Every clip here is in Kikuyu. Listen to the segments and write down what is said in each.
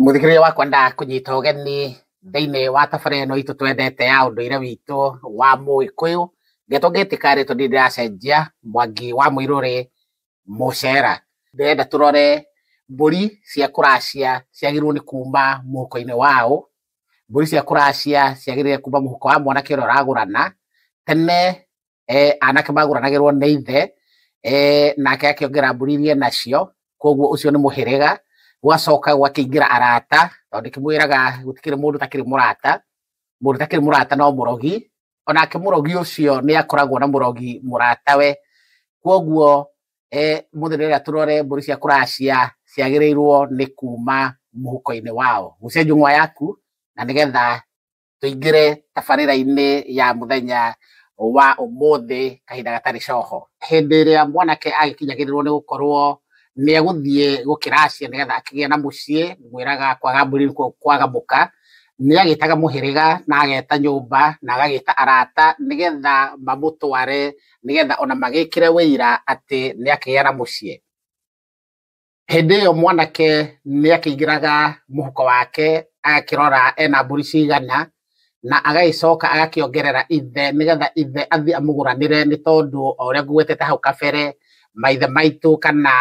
Mũthikĩrĩria wakwa ndakũnyita ũgeni thĩinĩ wa tabarĩra ĩno itũ twendete ya ũndũire witũ wa Mũgĩkũyũ. Ndeto ngĩtĩka rĩtwa ndirĩ ndĩracenjia, Mwangi wa Mũirũrĩ Mũcera. Ndĩrenda tũrore mbũri cia kũracia ciagĩrĩirwo nĩ kuuma mũhuko-inĩ wa ũ. Mbũri cia kũracia ciagĩrĩire kuuma mũhuko wa mwanake ũrĩa ũragũrana. Tene eh, anake magũranagĩrwo nĩ ithe eh, nake akĩongerera mbũri iria nacio koguo ũcio nĩ mũhĩrĩga gwacoka gwakĩingĩra arata tondũ kĩmwĩraga gũtikĩrĩ mũndũ takĩrĩ mũrata mũndũ takĩrĩ mũrata no mũrogi onake mũrogi ũcio nĩ akoragwo na mũrogi mũratawe koguo eh, mũthenya ũrĩa tũrore mbũri cia kũracia ciagĩrĩirwo nĩ kuma mũhuko-inĩ wao gucia njũng'wa yaku na nĩgetha tũingĩre tabarĩra-inĩ ya mũthenya wa ũmũthĩ kahinda gatarĩ coho. Hĩndĩ ĩrĩa mwanake agĩkinyagĩrĩrwo nĩ gũkorwo nĩ egũthiĩ gũkĩracia nĩgetha akĩgĩe na mũciĩ, mwĩraga kwaga mbũri nĩkuo kwaga mũka, nĩ agĩtaga mũhĩrĩga na ageta nyũmba na agagĩta arata nĩgetha mamũtware nĩgetha ona magĩkĩre ũira atĩ nĩ akĩgĩa na mũciĩ. Hĩndĩ ĩyo mwanake nĩ akĩingĩraga mũhuko wake agakĩrora ena mbũri cigana na agagĩcoka agakĩongerera ithe nĩgetha ithe athiĩ amũgũranĩre nĩ tondũ o ũrĩa ngũgwetete hau kabere maithe maitũ kana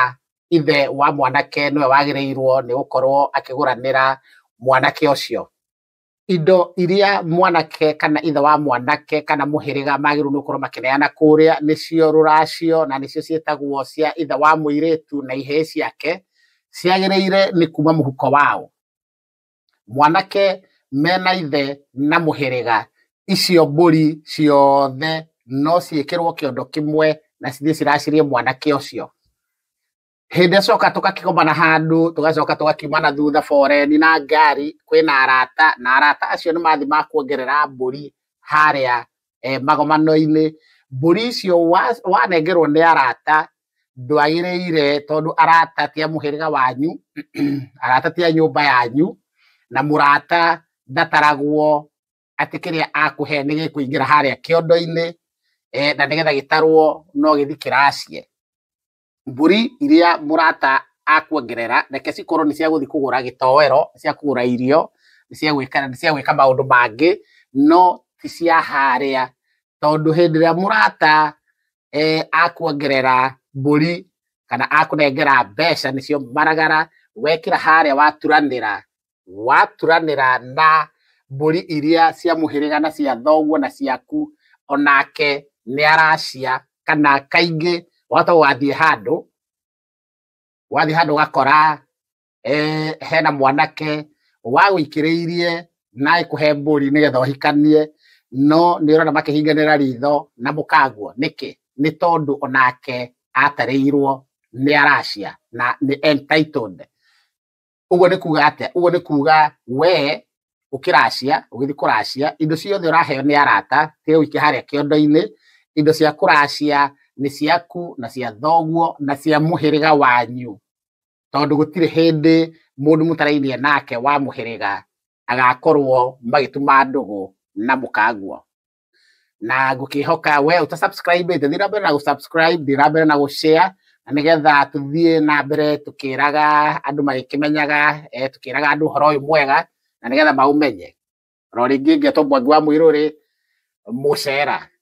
ithe wa mwanake nĩwe wagĩrĩirwo nĩ gũkorwo akĩgũranĩra mwanake ũcio. indo iria mwanake kana ithe wa mwanake kana mũhĩrĩga magĩrĩirwo nĩ gũkorwo makĩneana kũrĩa nĩcio rũracio na nĩcio ciĩtagwo cia ithe wa mũirĩtu na ihĩĩ ciake ciagĩrĩire nĩ kuma mũhuko wao. Mwanake mena ithe na mũhĩrĩga icio mbũri ciothe no ciĩkĩrwo kĩondo kĩmwe na cithiĩ ciracĩrie mwanake ũcio. hĩndĩ ĩrĩa coka tũgakĩgomana handũ tũgacoka tũgakiuma na thutha foreni na ngari kwĩna arata na arata acio nĩ mathiĩ makuongerera mbũri harĩa eh, magomano-inĩ mbũri icio wanengerwo nĩ arata ndwagĩrĩire tondũ arata ti a mũhĩrĩga wanyu arata ti a nyũmba yanyu na mũrata ndataragwo atĩ kĩrĩa akũhe nĩ gĩkũingĩra harĩa kĩondo-inĩ eh, na nĩgetha gĩtarwo no gĩthi kĩracie mbũri iria mũrata akuongerera, reke cikorwo nĩ cia gũthiĩ kũgũra gĩtoero, nĩ cia kũgũra irio, nĩ cia gwĩka, nĩ cia gwĩka maũndũ mangĩ, no ti cia harĩa. Tondũ hĩndĩ ĩrĩa mũrata akuongerera mbũri kana akũnengera mbeca nĩcio maragara, wekĩra harĩa waturanĩra, waturanĩra na mbũri iria cia mũhĩrĩga na cia thoguo na ciaku, onake nĩ aracia. Kana kaingĩ wahota gũgathiĩ handũ, wathiĩ handũ ũgakora hena mwanake wagũikĩrĩirie na agĩkũhe mbũri nĩgetha ũhikanie, no nĩ ũrona makĩhinganĩra ritho na mũkagũa. Nĩkĩ? Nĩ tondũ onake atarĩirwo nĩ aracia na nĩ entitled. Ũguo nĩ kuga atĩa? Ũguo nĩ kuga we ũkĩracia, ũgĩthiĩ kũracia, indo ciothe ũraheo nĩ arata, tiga ũike harĩa kĩondo-inĩ, indo cia kũracia nĩ ciaku na cia thoguo na cia mũhĩrĩga wanyu, tondũ gũtirĩ hĩndĩ mũndũ mũtarainie nake wa mũhĩrĩga agakorwo magĩtuma ndũgũ na mũkagua. na ngũkĩhoka we ũta subscribe ĩte thiĩ na mbere na gũsubscribe thiĩ na mbere na gũshare na nĩgetha tũthiĩ na mbere tũkĩraga andũ magĩkĩmenyaga eh, tũkĩraga andũ ũhoro ũyũ mwega na nĩgetha maũmenye ro rĩngĩ ngetwo mwangi wa mũirũrĩ mũcera